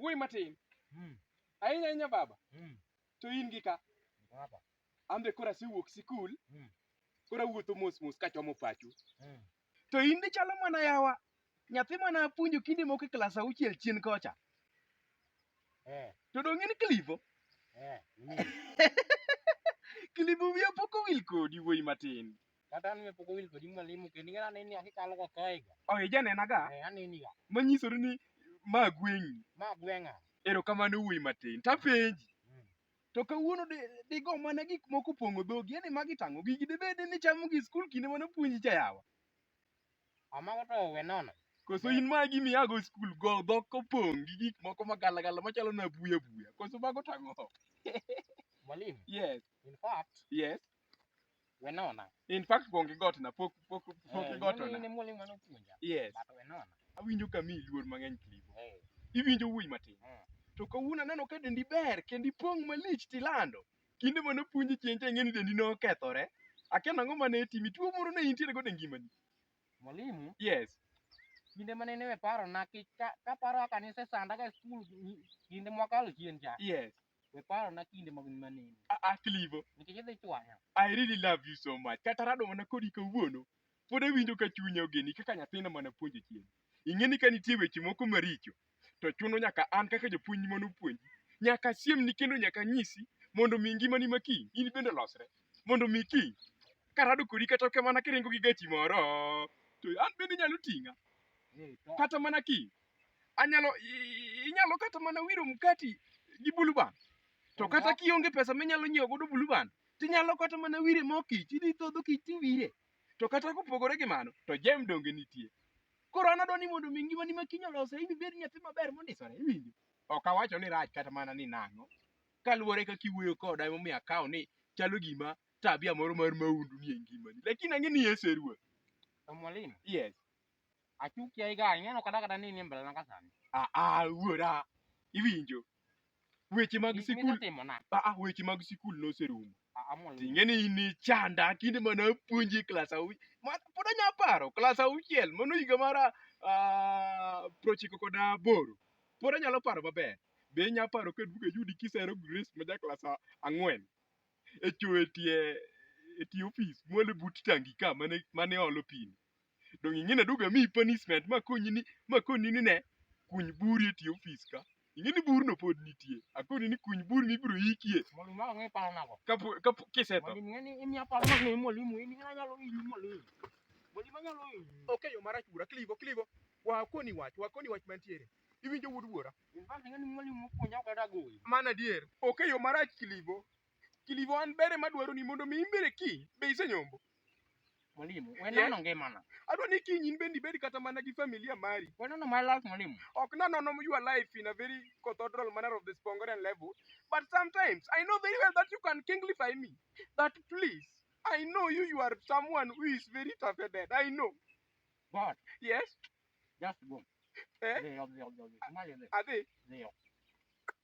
wuoyi matin mm. ahinya ahinya baba mm. to in gi ka baba an be koro asewuok sikul mm. koro awuotho mos mos kachomo pachu mm. To in be chalo mana yawa. Nyathi mane apuonjo kinde moko e klas auchiel chien kocha. Eh, To dong' in Clivo. eh, ni. Clivo wiya pok owil kodi wuoyi matin. Kata an be pok owil kodi mwalimu kendo ing'eyo aneni akikalo ga kae ga. Oh, ijanena ga. Eh, aneni ga. Manyisori ni ma gweng'i. Ma gweng'a. Erokamano wuoyi matin. Tapenji. Mm. To kawuono digo mana gik moko pong'o dhogi, yani magi tang'o gigi dibed ni chamo gi skul kinde mane puonji cha yawa. Amago to we nono. Koso in ma gimi ago skul go dhok kopong' gi gik moko ma gala gala machalo na buya buya. Koso mago tang'o. Mwalimu. Yes. In fact. Yes. Wenona. In fact pong' gi got na pok pok pok gi got ona. Ne mwalimu mane opuonja. Yes. But wenona. Awinjo ka mi luor mang'eny klibo. Hey. Iwinjo wuoyi matin. Mm. To kawuono aneno ka dendi ber kendi pong' malich tilando. Kinde mane opuonji chieng' cha ing'eni dendi nokethore. Akia nang'o mane timi tuo moro ne intiere go e ngimani. Mwalimu. Yes. Kinde mane ne paro na ka paro kaka ne sesanda ka e skul kinde mwakalo chien cha. Yes. We paro na kinde mag maneno. Ah, ah, Clevo, Nikech idhi chwanya. I really love you so much. Kata rado mana kodi kawuono, pod awinjo ka chunya ogeni kaka nyathina mana puonjo chien. Ing'e ni ka nitie weche moko maricho, to chuno nyaka an kaka japuonj mondo opuonji. Nyaka siem ni kendo nyaka nyisi mondo mi ngimani ma kiny in bende olosre. Mondo mi kiny karado kodi kata ka mana kiringo gi gachi moro, to an bende nyalo ting'a. Eh, to. Kata mana kiny anyalo inyalo kata mana wiro mkati gi buluban to kata kionge pesa minyalo nyiewo godo buluban tinyalo kata mana wire mo kich idhi thodho kich tiwire to kata kopogore gi mano to jem donge nitie koro an adwa ni mondo mi ngimani ma kiny olose in ibed nyathi maber mondisore iwinjo ok awacho ni rach kata mana ni nang'o kaluwore kaka iwuoyo koda emomiyo akawo ni chalo gima tabia moro mar maundu nie ngimani lakini ang'e ni yesu e ruoth mwalimu yes Achuki ai ga, ing'eno kada kada ni ni mbele na kasani. Ah ah wuora. Iwinjo. Weche mag Gik sikul. misetimo na. Ah ah weche mag sikul noserumo. Ah, amol. Ting'eni in ni chanda kinde mana puonji klas au. Ma pod anya paro klas auchiel mano higa mara ah prochiko kod aboro. Pod anyalo paro maber. Be inya paro ka duka yudi kisero Grace ma ja klas a- ang'wen. E chwe tie e tie ofis mwale but tangi ka mane mane olo pini. Dong' ing'e ni aduogo amiyi punishment ma koni ni ma koni ni ne kuny buri e tie ofis ka. Ing'e ni burno pod nitie. Akoni ni kuny buri mibiro ikie Mondo ma ong'e paro nago. kapo kapo kisetho. Mondo ing'e ni imiya paro ma ng'e mwalimu in ng'a nyalo hinyi mwalimu. Mwalimu anyalo hinyi. Ok e yo marach wuora, kligo kligo. Wa akoni wach, wa akoni wach mantiere. Iwinjo wuod wuora? In fact ing'e ni mwalimu mopuonja ok adagoyi. Mano adier. Ok e yo marach kligo. Kilivo an bere madwaro ni mondo mi imbere kiny be isenyombo. Mwalimu, we Yes. nono ngimana. Adwa ni kiny in bende ibed kata mana gi familia mari. We nono my life, mwalimu. Ok na nono your life in a very cathedral manner of the Spongorian level, but sometimes I know very well that you can kinglify me. That please, I know you, you are someone who is very tough headed. I know. But Yes, just go. Eh? Leo, leo, leo, leo. Mali leo, Ade. leo.